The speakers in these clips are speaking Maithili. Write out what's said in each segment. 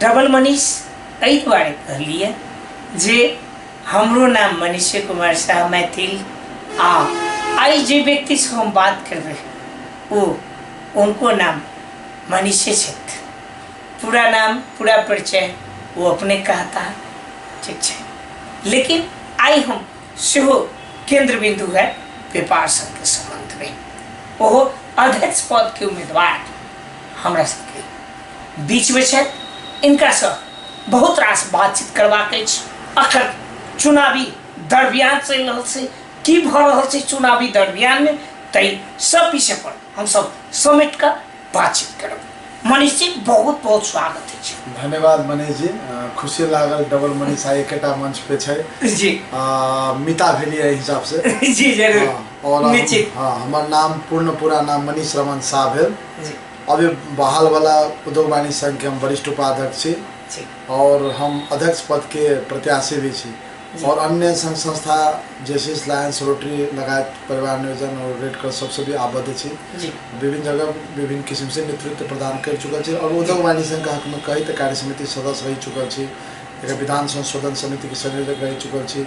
डबल मनीष एहि दुआरे कहलिए जे हमरो नाम मनीष कुमार शाह मैथिल आ आई जे व्यक्ति से हम बात कर रहे वो उनको नाम मनीष क्षेत्र पूरा नाम पूरा परिचय वो अपने कहता है ठीक है लेकिन आई हम सेहो केंद्र बिंदु है व्यापार संघ के संबंध में ओहो अध्यक्ष पद के उम्मीदवार हमरा सबके बीचमे छै इनकासँ बहुत रास बातचीत करबाक अछि अखन चुनावी दरमियान चलि रहल छै की भऽ रहल छै चुनावी दरमियानमे ताहि सब विषय पर हमसब समेट कऽ बातचीत करब मनीष जी बहुत बहुत स्वागत अछि धन्यवाद मनीष जी खुशी लागल डबल मनीष आइ एकेटा मंच पे छै जी मिता भेली एहि हिसाब से जी जरूर और निश्चित हाँ हमार नाम पूर्ण पूरा नाम मनीष रमन शाह भेल जी अभी बहाल वाला उद्योग वाणिज्य संघ के हम वरिष्ठ उपाध्यक्ष छी जी और हम अध्यक्ष पद के प्रत्याशी भी छी जी। और अन्य संघ संस्था जैसे लायंस रोटरी लगायत परिवार नियोजन और रेड क्रॉस सबसे भी आबद्ध छी जी विभिन्न जगह विभिन्न किसिम से नेतृत्व प्रदान कर चुकल छी और उद्योग वाणिज्य संघ का हक में कई त कार्य समिति सदस्य रह चुकल छी एकर विधान संशोधन समिति के संयोजक रह चुकल छी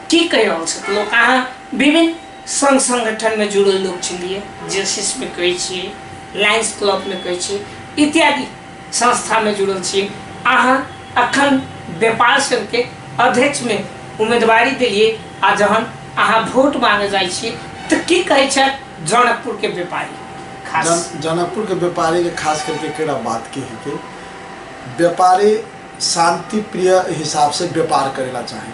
की कहि रहल छथि लोक अहाँ विभिन्न संघ संगठनमे जुड़ल लोक छलियै जेसिसमे कहै छियै लायन्स क्लबमे कहै छियै इत्यादि संस्थामे जुड़ल छियै अहाँ अखन व्यापार संघके अध्यक्षमे उम्मीदवारी देलियै आ जहन अहाँ वोट मांगे जाइ छियै तऽ की कहै छथि जनकपुरके व्यापारी खास जन, जनकपुर के व्यापारी के खास करके केड़ा बात के है कि व्यापारी शांति प्रिय हिसाब से व्यापार करेला चाहे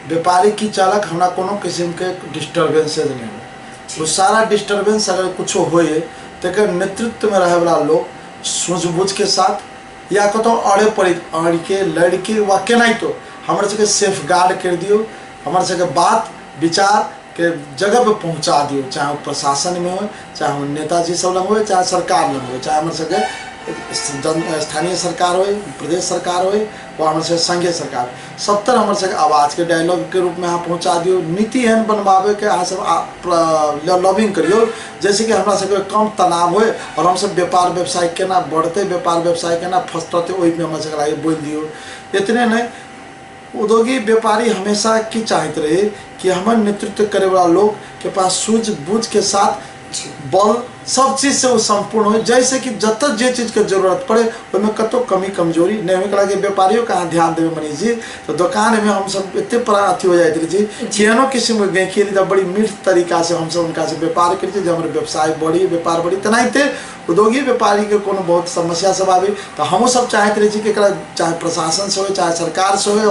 व्यापारी की चाहलक हमरा कोनो किसिमके डिस्टर्बेंसेज नहि हो ओ सारा डिस्टर्बेंस अगर किछो होइए तकर नेतृत्वमे रहैवला लोक सूझबूझके साथ या कतहु अड़े पड़ि अड़िके लड़िके वा केनाहितो हमर सबके सेफ गार्ड करि दियौ हमर सबके बात विचारके जगहपर पहुँचा दियौ चाहे ओ प्रशासनमे हो चाहे ओ नेताजी सब लग हो चाहे सरकार लग हो चाहे हमर सबके जन स्थानीय सरकार होइ प्रदेश सरकार होइ ओ हमर सबके संघे सरकार सत्तर हमर सबके आवाजके डायलॉगके रूपमे अहाँ पहुँचा दियौ नीति एहन बनबाबैके अहाँ सब आ- प्र- ल- लॉबिंग करियौ जैसे कि हमरा सबके कम तनाव होय और हम सब व्यापार व्यवसाय केना बढ़तै व्यापार व्यवसाय केना फस्टतै ओहिमे हमरा सबके लागि बोलि दियौ इतने नहि उद्योगी व्यापारी हमेशा की चाहैत रहे कि हमर नेतृत्व करे वाला लोग के पास सूझबूझ के साथ बल सब चीज से ओ सम्पूर्ण हो जैसे कि जत जे चीज के जरूरत पड़े ओहिमे कतो कमी कमजोरी नहीं हो एकरा के व्यापारियों के अहाँ ध्यान देवे मनीष जी तो दुकान में हम सब एते परा अथी हो जाते जी केहनो किस्म के गई खेली तब बड़ी मीठ तरीका से हम सब उनका से व्यापार करी जे हमारे व्यवसाय बढ़ी व्यापार बढ़ी तेनाहिते उद्योगी व्यापारी के कोनो बहुत समस्या सब आवे तो हमहूँ सब चाहते रही कि एकरा चाहे प्रशासन से हो चाहे सरकार से हो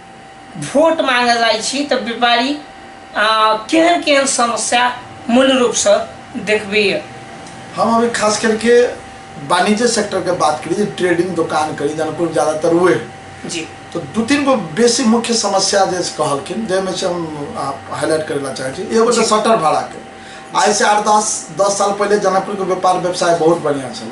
वोट मांगे जाइ छी तऽ व्यापारी केहन केहन समस्या मूल रूप से देखबी हम अभी खास करके वाणिज्य सेक्टर के बात करी ट्रेडिंग दुकान करी जनकपुर ज्यादातर हुए जी तो दू तीन गो बेसी मुख्य समस्या जे कहलखिन जाहिमे से हम हाईलाइट करे ला चाहे एगो तो शटर भाड़ा के आज से आठ दस दस साल पहले जनकपुर के व्यापार व्यवसाय बहुत बढ़िया चल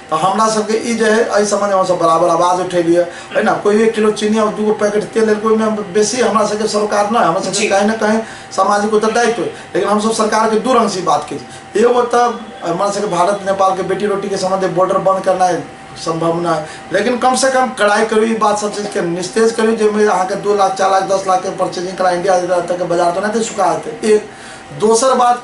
तऽ हमरा सबके ई जे है एहि समय हमसब बराबर आवाज उठेलियै है ना कोई एक किलो चीनी और दूगो पैकेट तेल लेलकै ओहिमे बेसी हमरा सबके सरोकार नहि हमरा सबके जी। कहीं ना कहीं सामाजिक उत्तरदायित्व लेकिन हमसब सरकार के दू रंग से ई बात के छी। एगो तऽ हमरा सबके भारत नेपाल के बेटी रोटी के संबंध है, बॉर्डर बंद करना है संभव ना है लेकिन कम से कम कड़ाई करू ई बात सब चीज के निस्तेज करू जाहिमे अहाँके दू लाख चार लाख दस लाख के परचेजिंग करा इंडिया तक के बाजार तो नहि सुखा हेतै एक दोसर बात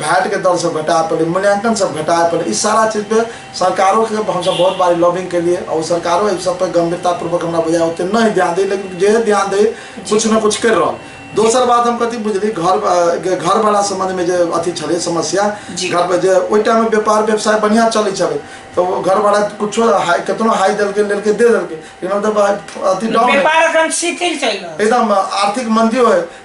भैट के दर सब घटाए पड़े मूल्यांकन सब घटाए पड़े इस सारा चीज पे सरकारों के हम सब बहुत बारी लॉबिंग के लिए और सरकारों इस सब पे गंभीरता पूर्वक हमरा बुझाए होते नहीं ध्यान दे लेकिन जे ध्यान दे कुछ ना कुछ कर रहा दोसर बात हम कथी बुझली घर बा- घर वाला संबंध में जे अथी छले समस्या जी। घर पर जे ओहि टाइम में व्यापार व्यवसाय बढ़िया चले छले तो वो घर वाला कुछो हाई कितनो हाई देलके लेलके दे देलके लेकिन मतलब अथी डाउन है। व्यापार एकदम शिथिल चलि रहल एकदम आर्थिक मंदी होय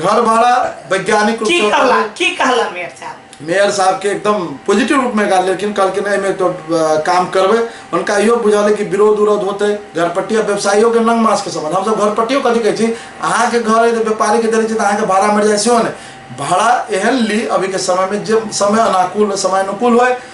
घर भाड़ा वैज्ञानिक रूप की से कहला उठावे। की कहला मेयर साहब मेयर साहब के एकदम पॉजिटिव रूप में कहले लेकिन कहलके नहीं में तो अ, काम करबे उनका इहो बुझाले कि विरोध उरोध होते घरपट्टी आ व्यवसायियों के नंग मास के समझ हम सब घरपट्टियों कथी कहै छी अहाँ के घर है तो व्यापारी के देले छी तो अहाँ के भाड़ा मर जाय सेहो ने भाड़ा एहन ली अभी के समय में जे समय अनुकूल समय अनुकूल होय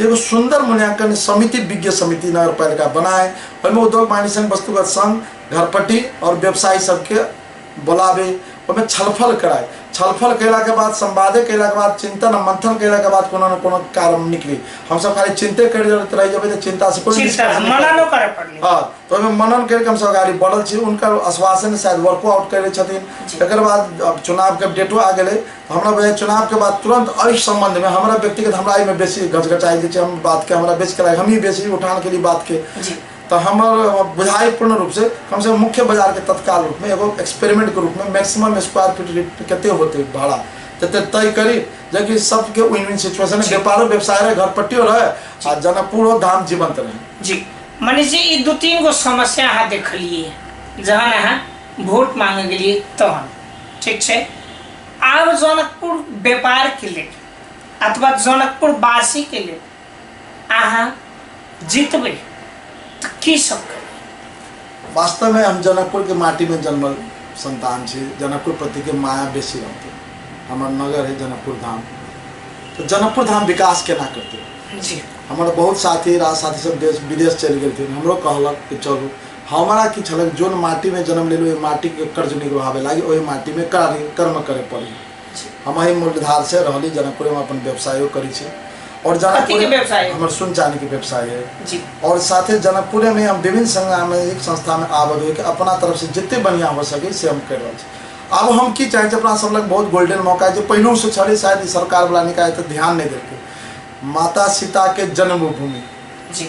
एगो सुंदर मूल्यांकन समिति विज्ञ समिति नगर पालिका बनाए ओहिमे उद्योग वाणिज्य संघ वस्तुगत संघ घरपट्टी और व्यवसायी सबके बोलाबे ओहिमे छलफल कराए छलफल कयला के बाद संवादे कयला के बाद चिंतन आ मंथन कयला के बाद कोनो न कोनो कारण निकली हमसब खाली चिंते करि रहत रहि जेबै तऽ चिंता से कोई चिंता निष्कर्ष निकलत मना नहि। न करे पड़ली हाँ तो ओहिमे मनन करके हमसब अगाडि बढ़ल छी हुनकर आश्वासन शायद वर्को आउट कयले छथिन जी। एकर बाद अब चुनावके डेटो आ गेलै हमरा वह चुनाव के बाद तुरंत अ संबंध में हमारा व्यक्तिगत हमारा एहिमे बेसी गचगचाई जे हम बात के हमारा बेसी कराई हम ही बेसी उठान के लिए बात के जी तो हमार बुझाई पूर्ण रूप से कम से कम मुख्य बाजार के तत्काल रूप में एगो एक्सपेरिमेंट के रूप में मैक्सिमम स्क्वायर फीट रेट कते होते भाड़ा तते तय करी जबकि सबके विन विन सिचुएशन जी। व्यापारो व्यवसाय रहे घर पट्टियो रहे आ जनकपुरो धाम जीवंत रहे जी मनीष जी ई दू तीन गो समस्या अहाँ देखलिए जहन अहाँ वोट मांगे गेलिए तहन ठीक छै आब जनकपुर व्यापारके लेल अथवा जनकपुर वासीके लेल अहाँ जितबै तऽ की सब करबै वास्तवमे हम जनकपुरके माटीमे जन्मल सन्तान छी जनकपुर प्रतिके माया बेसी रहतै हमर नगर है जनकपुर धाम तऽ जनकपुर धाम विकास केना करतै जी हमर बहुत साथी राज साथी सब देश विदेश चलि गेलथिन हमरो कहलक कि चलू हमरा की छलक जोन माटी में जन्म लेलू ओहि माटी के कर्ज निगवावे लागी ओहि माटी में कार्य कर्म करे पड़ी हम ही मूलधार से रहली जनकपुर में अपन व्यवसायो करी छी और कथी के जनकपुर व्यवसाय? हमर सुन चांदी के व्यवसाय है जी और साथे जनकपुरे में हम विभिन्न सामाजिक संस्था में आबद होके अपना तरफ से जितने बढ़िया हो सके से हम कर रहल छी आब हम की चाहे अपना सब लग बहुत गोल्डन मौका है जे पहिलू से छले शायद ई सरकार वाला निकाय तो ध्यान नहीं देलके माता सीता के जन्मभूमि जी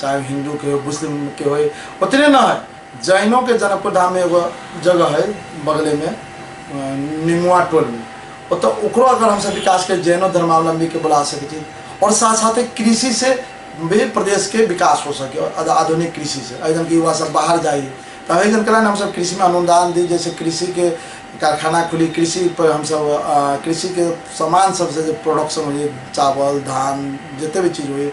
चाहे वो हिंदू के हो मुस्लिम के हो उतने ना है जैनों के जनकपुर धाम में एगो जगह है बगले में अ, निमुआ टोल में ओतऽ ओकरो अगर हमसब विकास के जैनो धर्मावलंबी के बुला सकै छी और साथ साथे कृषि से भी प्रदेश के विकास हो सके और आध- आधुनिक कृषि से एहि कि युवा सब बाहर जाइए तऽ एहि जन कारण हमसब कृषि में अनुदान दी जैसे कृषि के कारखाना खुली कृषि पर हमसब अ, कृषि के सामान सबसे जे प्रोडक्शन होइए चावल धान जते भी चीज होइए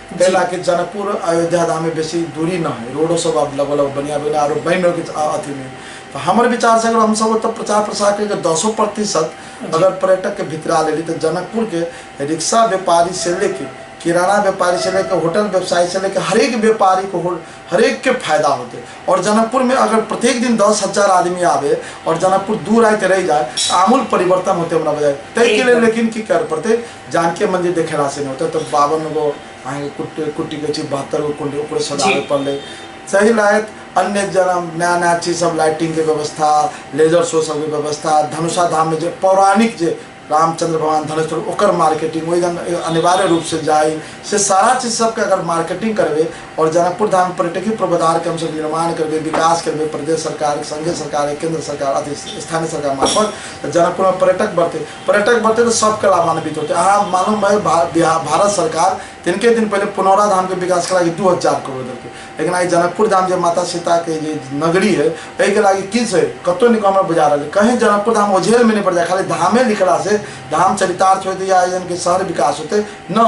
जी कैला कि जनकपुर अयोध्या धाम में बेसी दूरी ना है रोडो सब अब लगभग लगभग बढ़िया बने और बन रहे के अथी में तो हमर विचार से अगर हम सब तो प्रचार प्रसार करके दसो प्रतिशत अगर पर्यटक के भितरा लेली तो जनकपुर के रिक्शा व्यापारी से लेके किराना व्यापारी से लेके होटल व्यवसायी से लेके हरेक व्यापारी को हो- हरेक के फायदा होते और जनकपुर में अगर प्रत्येक दिन दस हजार आदमी आवे और जनकपुर दूर आए के रह जाए तो आमूल परिवर्तन होते हमरा बजाय ताहि के लेल एकदम। लेकिन की कर पड़ते जानकी मंदिर देखेला से नहीं होता तो बावन गो अहाँ कुट्टी कुट्टी के छी बहत्तर गो कुंडी ओकरे सजावे जी। पड़ले सही लायत अन्य जना नया नया चीज सब लाइटिंग के व्यवस्था लेजर शो सब के व्यवस्था धनुषा धाम में जो पौराणिक जे रामचंद्र भगवान धनुष पर ओकर मार्केटिंग वही जन अनिवार्य रूप से जाए से सारा चीज सबके अगर मार्केटिंग करबे और जनकपुर धाम पर्यटकीय पूर्वाधार के हमसब निर्माण करबे विकास करबे प्रदेश सरकार संघीय सरकार केंद्र सरकार अथी स्थानीय सरकार मार्फत तऽ जनकपुर में पर्यटक बढ़ते पर्यटक बढ़ते तो सबके लाभान्वित होते अहाँ मालूम है भा, बिहा- भारत सरकार तिनके दिन पहले पुनौरा धाम के विकास करा के दू हजार करोड़ देलकै लेकिन आई जनकपुर धाम जे माता सीता के जे नगरी है एहि के लागी की छै कतौ निकल हमरा बुझा रहल है। कहीं जनकपुर धाम ओझेल में नहीं पड़ जाए खाली धामे लिखला से धाम चरितार्थ होते या एहन के शहर विकास होते न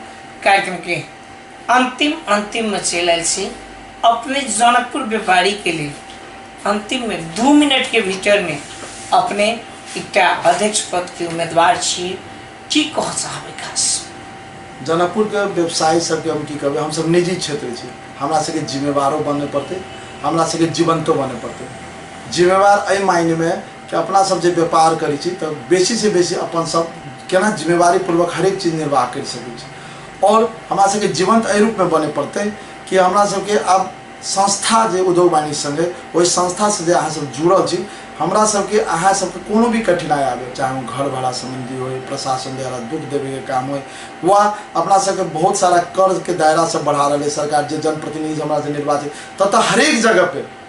कार्यक्रम के अंतिम अंतिम में चल आयल छी अपने जनकपुर व्यापारी के लिए अंतिम में दू मिनट के भीतर में अपने एकटा अध्यक्ष पद के उम्मीदवार छी की कह चाहबे खास जनकपुर के व्यवसायी सबके हम की कहबै हमसब निजी क्षेत्र छी हमरा सबके जिम्मेवारो बने पड़तै हमरा सबके जीवंतो बने पड़तै जिम्मेवार एहि मायने में कि अपना सब जे व्यापार करै छी तऽ बेसी से बेसी अपन सब केना जिम्मेवारी पूर्वक हरेक चीज निर्वाह करि सकै छी आओर हमरा सबके जीवंत एहि रूपमे बने पड़तै कि हमरा सबके आब संस्था जे उद्योग वाणिज्य संघ अइ ओहि संस्था से जे अहाँ सब जुड़ल छी हमरा सबके अहाँ सबके कोनो भी कठिनाइ आबे चाहे ओ घर भाड़ा संबंधी हो प्रशासन द्वारा दुख देवे के काम हो वा अपना सबके बहुत सारा कर्ज के दायरा सब बढ़ा रहे सरकार जे जनप्रतिनिधि हमरा से निर्वाचित ततः हरेक जगह पे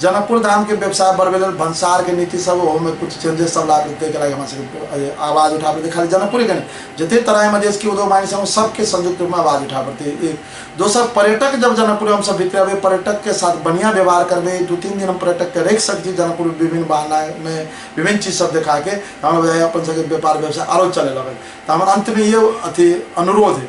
जनकपुर धामके व्यवसाय बढ़बै लेल भन्सारके नीति सब ओहोमे किछु चेंजेस सब लाबि ताहिके लागि हमरा सबके आवाज उठा पड़तै खाली जनकपुरेके नहि जते तराईमे देशके उद्योग माइन सब सबके संयुक्त रूपमे आवाज उठा पड़तै एक दोसर पर्यटक जब जनकपुर हमसब बितरबै पर्यटकके साथ बढ़िया व्यवहार करबै दू तीन दिन हम पर्यटकके राखि सकै छी जनकपुर विभिन्न बहानामे विभिन्न चीज सब देखाके हमरा बुझाइए अपन सबके व्यापार व्यवसाय आरो चलै लगत तऽ हमर अन्तमे इहो अथी अनुरोध अइ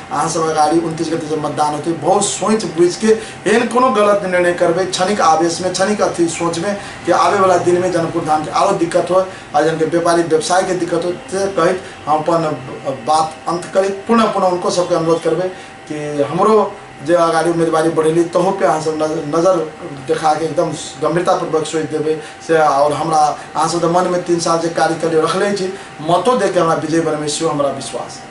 अहाँ सब अगाडि उन्तिस गते जब मतदान होते बहुत सोच बुझ के एहन कोनो गलत निर्णय करबे क्षणिक आवेश में क्षणिक अथी सोच में कि आवे वाला दिन में जनकपुर धाम के आरो दिक्कत हो आ जन के व्यापारी व्यवसाय के दिक्कत हो से कहित हम अपन बात अंत करित पुनः पुनः उनको सबके अनुरोध करबे कि हमरो जे अगाडि उम्मेदवारी बढ़ेली तहू पे अहाँ सब नज- नजर देखा के एकदम गंभीरतापूर्वक सोच देबे से और हमरा अहाँ सब मन में तीन साल जे कार्य करियो रखले छी मतो दे के हमरा विजय बनबे सेहो हमरा विश्वास है